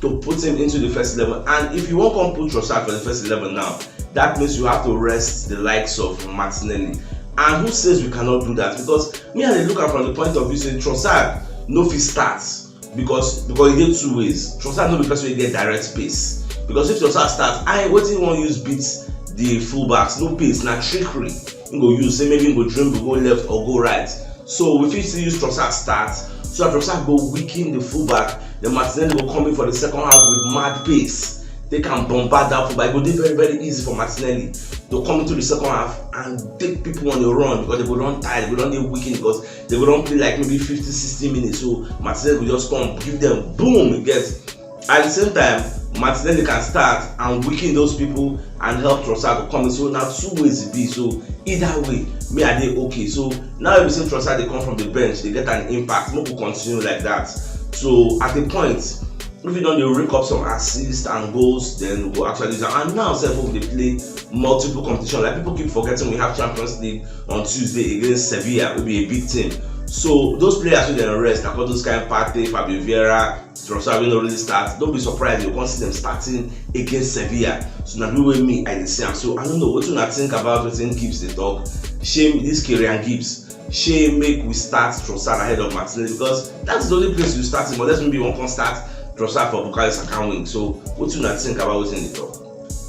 to put him into the first eleven and if you wan come put Trossard for the first eleven now that means you have to rest the likes of Martinelli and who says we cannot do that because me I dey look am from the point of view say Trossard no fit start because because e dey two ways Trossard no be person wey get direct space because if Trossard start I wetin you wan use beat the fullbacks no pace na trickery im go use say maybe im go dribble go left or go right so we fit still use trossard start so that trossard go weaken the fullback then martinelli go come in for the second half with mad pace they can bombard that football. It will be very, very easy for Martinelli to come into the second half and take people on the run because they will run tired, they will run the weekend because they will run play like maybe 50, 60 minutes. So Martinelli will just come, give them boom, he gets At di same time, Martinelli can start and weaken those pipo and help Trossard to come in so na two ways e be so either way me I dey okay so now wey be say Trossard dey come from di bench dey get an impact make we continue like dat so at a point if you don dey rake up some assists and goals then we go actually use am and now sef wey we dey play multiple competition like people keep forgetting we have champions league on tuesday against sevilla wey be a big team so those players wey dem rest na all those kind partey fabio vieira Trossard wey no really start no be surprise you come see dem starting against Sevilla so na the way me I dey see am so I no know wetin una think about wetin Gibbs dey talk shey this Kieran Gibbs shey make we start Trossard ahead of Martinelli because that is the only place you start him unless maybe you wan come start Trossard for Bukayo Saka wing so wetin una think about wetin he dey talk.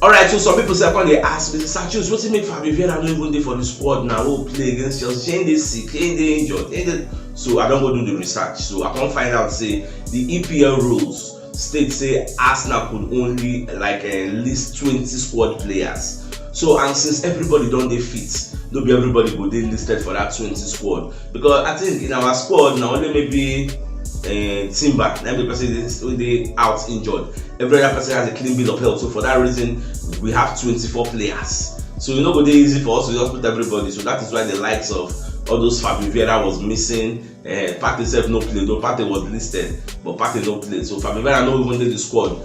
Alright so some people sef come dey ask me say Sir Chools wetin make Fabio Vieira no even dey for the squad na wey play against Chelsea shey him dey sick shey him dey injured shey him dey so I don go do the research so I come find out say the EPL rules state say Arsenal could only like uh, list twenty squad players so and since everybody don dey fit no be everybody go dey listed for that twenty squad because i think in our squad na only maybe uh, timber na be person wey dey out injured every other person has a clean bill of health so for that reason we have twenty-four players so e no go dey easy for us to just put everybody so that is why the likes of all those Fabio Vieira was missing uh, Partey sef no play though Partey was listed but Partey no play so Fabio Vieira no even dey the squad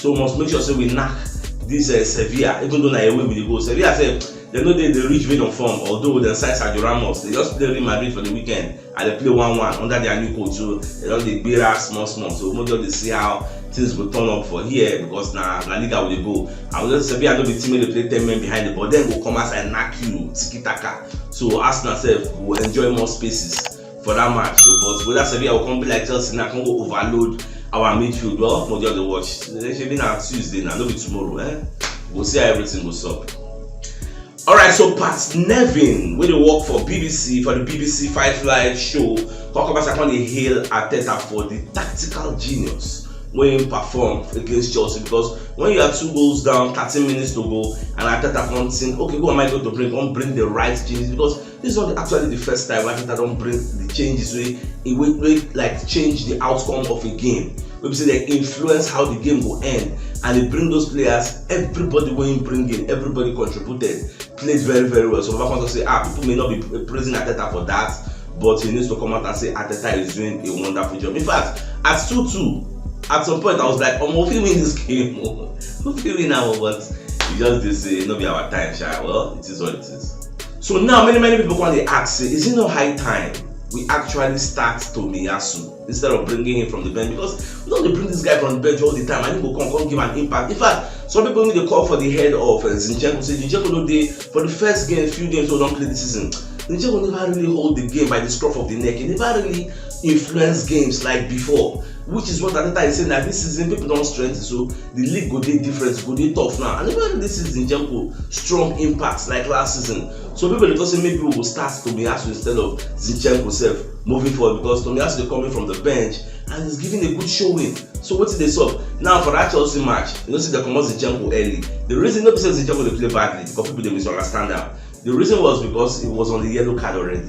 so we must make sure say we knack this uh, Sevilla even though na away we dey go Sevilla sef dem no dey dey reach vein of form although dem sign Sergio Ramos they just play Real Madrid for the weekend and dem play one one under their new coach so dem don dey gbera small small so we just dey see how things go turn up for here because na La Liga we dey go and we just Sevilla no be team wey dey play ten men behind the ball dem go come outside knack you tiki taka so Arsenal sef go enjoy more spaces for that match so but whether Sevilla will come be like Chelsea now come go overload our midfield well for just dey watch shebi na Tuesday na no be tomorrow eh go see how everything go sup. Alright, so Pat Nevin, wey dey work for BBC for the BBC Five Live show, come come come dey hail Arteta for the tactical genius wey im perform against Chelsea because when you are two goals down, thirteen minutes to go, and Arteta come think, okay, who am I going to bring? Come bring the right genius because This is not actually the first time Arteta don bring the changes wey e wey wey like change the outcome of a game wey be say dem influence how the game go end and e bring those players everybody wey im bring in everybody contributed played very very well so baba come talk say ah people may not be praising Arteta for that but he needs to come out and say Arteta is doing a wonderful job in fact at 2-2 at some point I was like omo we win this game o we win am but we just dey say no be our time sha well it is what it is. So now many many people come dey ask say is it not high time we actually start Tomiyasu instead of bringing him from the bench because we don dey bring this guy from the bench all the time and he go come come give an impact in fact some people even dey call for the head of uh, Zinchenko say Zinchenko no dey for the first game few games wey we don play this season Zinchenko never really hold the game by the scruff of the neck he never really influence games like before which is what Arteta is saying that this season people don strengthen so the league go dey different e go dey tough now and even this season Zinchenko strong impact like last season so people dey talk say maybe we go start Tomiyasu instead of Zinchenko sef moving forward because Tomiyasu dey coming from the bench and he's giving a good showing so wetin dey sup now for that Chelsea match you know say dem comot Zinchenko early the reason no be say Zinchenko dey play badly because people dey misunderstand am the reason was because he was on the yellow card already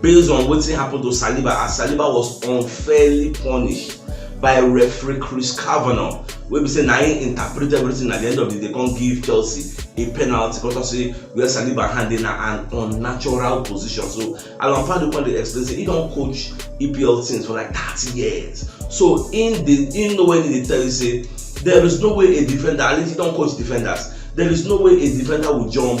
based on wetin happen to Saliba as Saliba was unfairly punished by referee Chris Kavanagh wey be say na him interpret everything at the end of the day come give Chelsea a penalty because of say where Saliba hand dey na an unnatural position so Alan Pardew come dey explain say he don coach EPL teams for like thirty years so him dey him know when he dey tell you say there is no way a defender at least he don coach defenders there is no way a defender will jump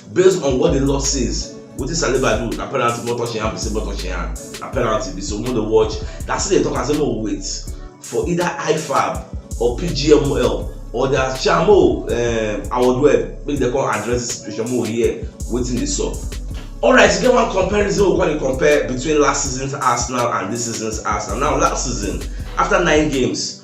based on what the law says wetin saliba do na penalty mo touch im hand be say mo touch im hand na penalty be so mo dey watch na still dey talk am say mo wait for either ifab or pgml or their chairman mo um, awodweb make dem come address the situation mo hear wetin dey sup. alright e get one comparison we come dey compare between last season's arsenal and this season's arsenal now last season after nine games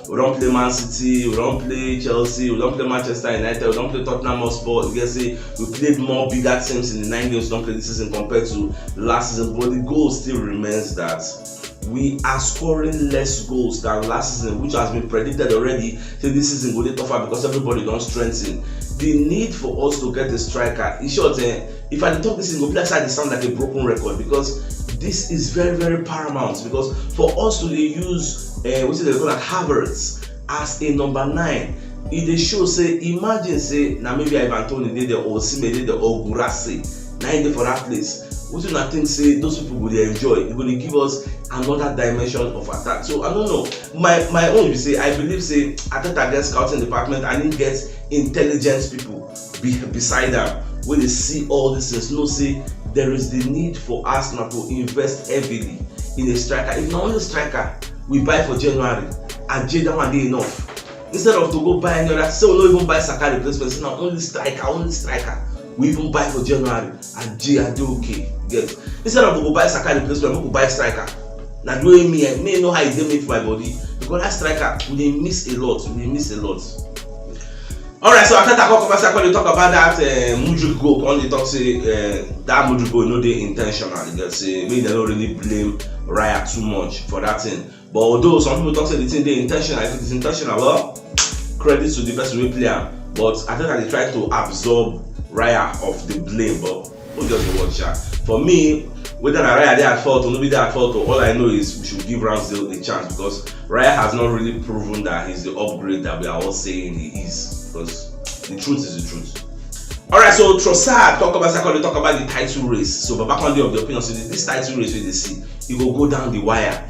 We don play Man City, we don play Chelsea, we don play Manchester United, we don play Tottenham Hotspur. You get say we played more bigger teams in the nine games we don play this season compared to last season, but the goal still remains that we are scoring less goals than last season, which has been predicted already. Say this season go dey tougher because everybody don strengthen. The need for us to get a striker, in short, eh, If I talk this, it go be like I sound like a broken record because this is very very paramount because for us to use uh, eh, what is it called like Havertz as a number nine e dey show say imagine say na maybe ivan toney dey there or osimhen dey there or gurase na him dey for that place wetin una think say those people go dey enjoy e go dey give us another dimension of attack so i no know my my own be say i believe say ateta get scouting department and he get intelligence people be beside am wey dey see all dis things know say there is the need for arsenal to invest heavily in a striker if na only striker we buy for january aje that one dey enough instead of to go buy any other say we no even buy saka replacement say na only striker only striker we even buy for january Aje Adeoke get instead of we go buy Saka replacement make we buy striker na the way me eh, me know how e dey make my body because that striker we dey miss a lot we dey miss a lot alright so after that come come dey talk about that uh, mudrik goal come dey talk say uh, that mudrik goal no dey in ten tional get say make dem no really blame raya too much for that thing But although some people talk say the thing dey intentional, if it is intentional, well, credit to the person wey play am. But I think I dey try to absorb Raya of the blame, but who just dey watch am? For me, whether na Raya dey at fault or no be dey at fault, all I know is we should give Ramsdale a chance because Raya has not really proven that he's the upgrade that we are all saying he is. Because the truth is the truth. Alright, so Trossard talk about second, talk about the title race. So Babakonde of the opinion say this title race wey dey see, e go go down the wire.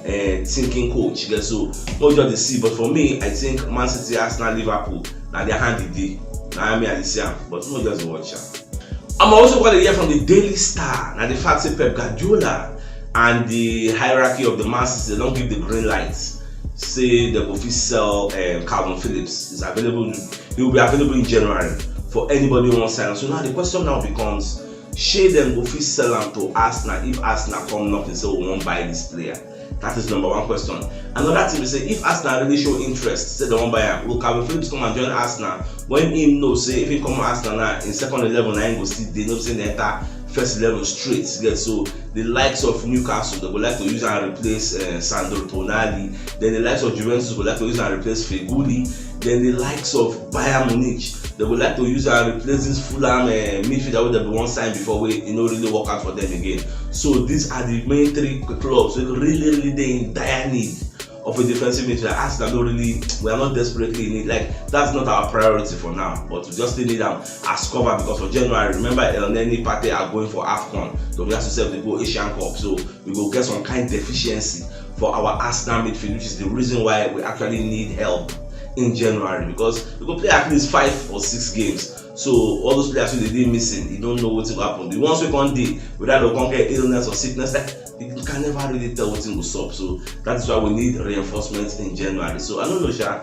uh, thinking coach you get so no just dey see but for me i think man city arsenal liverpool na their hand e dey na me i dey see am but no just watch am. i'm also going to hear from the daily star na the fact say pep guardiola and the hierarchy of the man city don give the green light say dem go fit sell um, calvin phillips is available he will be available in january for anybody who wan sign am so now the question now becomes Shey dem go fit sell am to Arsenal if Arsenal come knocking say we wan buy dis player? Dat is number one question. Anoda tin be say if Arsenal really show interest say dem wan buy am, will Calvin Phillips come and join Arsenal wen im know say if im come Arsenal now, im second eleven na im go still dey no be say im dey enta first eleven straight you get so di likes of Newcastle dem go like to use am replace um Sandro Tonali den di likes of Juventus go like to use am replace Feghouli. then di likes of bayern munich dem go like to use am replace dis fulham eh, midfielder wey dem bin wan sign before wey e no really work out for dem again so dis are di main three clubs wey really really dey in dire need of a defensive midfielder arsenal no really we are not desperately in need like that's not our priority for now but we just still need am as cover because for january remember elneny partey are going for afcon so we have to sef dey go asian cup so we go get some kind deficiency for our Arsenal midfield, which is the reason why we actually need help in January because we go play at least five or six games. So all those players wey dey missing, you don't know what will happen. The ones wey come dey, whether they come get illness or sickness, like, you can never really tell what will sup. So that is why we need reinforcement in January. So I don't know, Sha,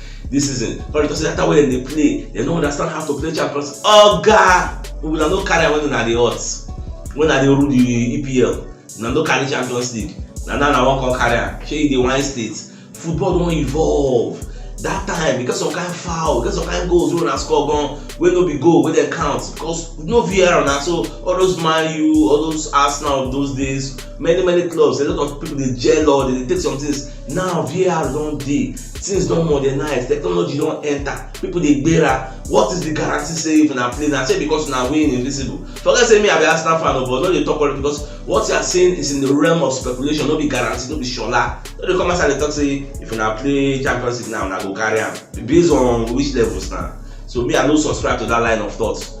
this season but because that time wey dem dey play dem no understand how to play champions oga una no carry am when una dey hot when una dey rule the epl una no carry champions league na now una wan come carry am shey you dey whine state football don evolve that time because some kind foul because some kind goals wey una score gan wey no be goal wey dem count because no var na so all those man u all those arsenal of those days many many clubs a lot of people dey gel or dey take some things now var don dey things don modernize technology don enter people dey gbera what is the guarantee say if una play na say because una win invisible forget say me i be arsenal fan o but no dey talk all because what you are saying is in the realm of speculation no be guarantee no be shola no dey come outside dey talk say if una play champions league now una go carry am based on which levels na so me i no subscribe to that line of thought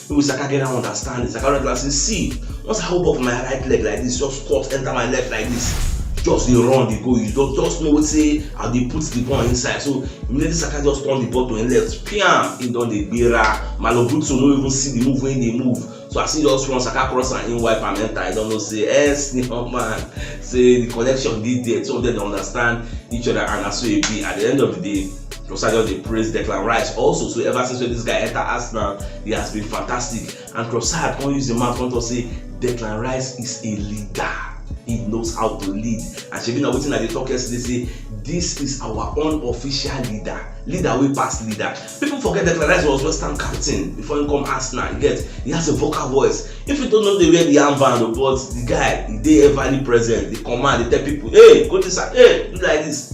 Wey we saka get dat understanding, saka don tell am sey see once I hop up my right leg like dis just squat enter my left like dis just dey run dey go you just just know sey I dey put de ball inside so immediately saka just turn de ball to im left piam im don dey gbera Malo Gusto no even see de move wey im dey move so as im just run saka cross am im wipe am enter im don know sey yes de young man sey de connection dey there two of dem dey understand each other and na so e be at de end of de day Rosa just dey praise Declan Rice also so ever since when this guy enter Arsenal he has been fantastic and Trossard come use the man come talk say Declan Rice is a leader he knows how to lead and shebi na wetin I dey talk yesterday say this is our own official leader leader wey pass leader people forget Declan Rice was West Ham captain before he come Arsenal you get he has a vocal voice if you don't know dey wear the armband o but the guy he dey everly present dey command dey tell people hey go this side hey do like this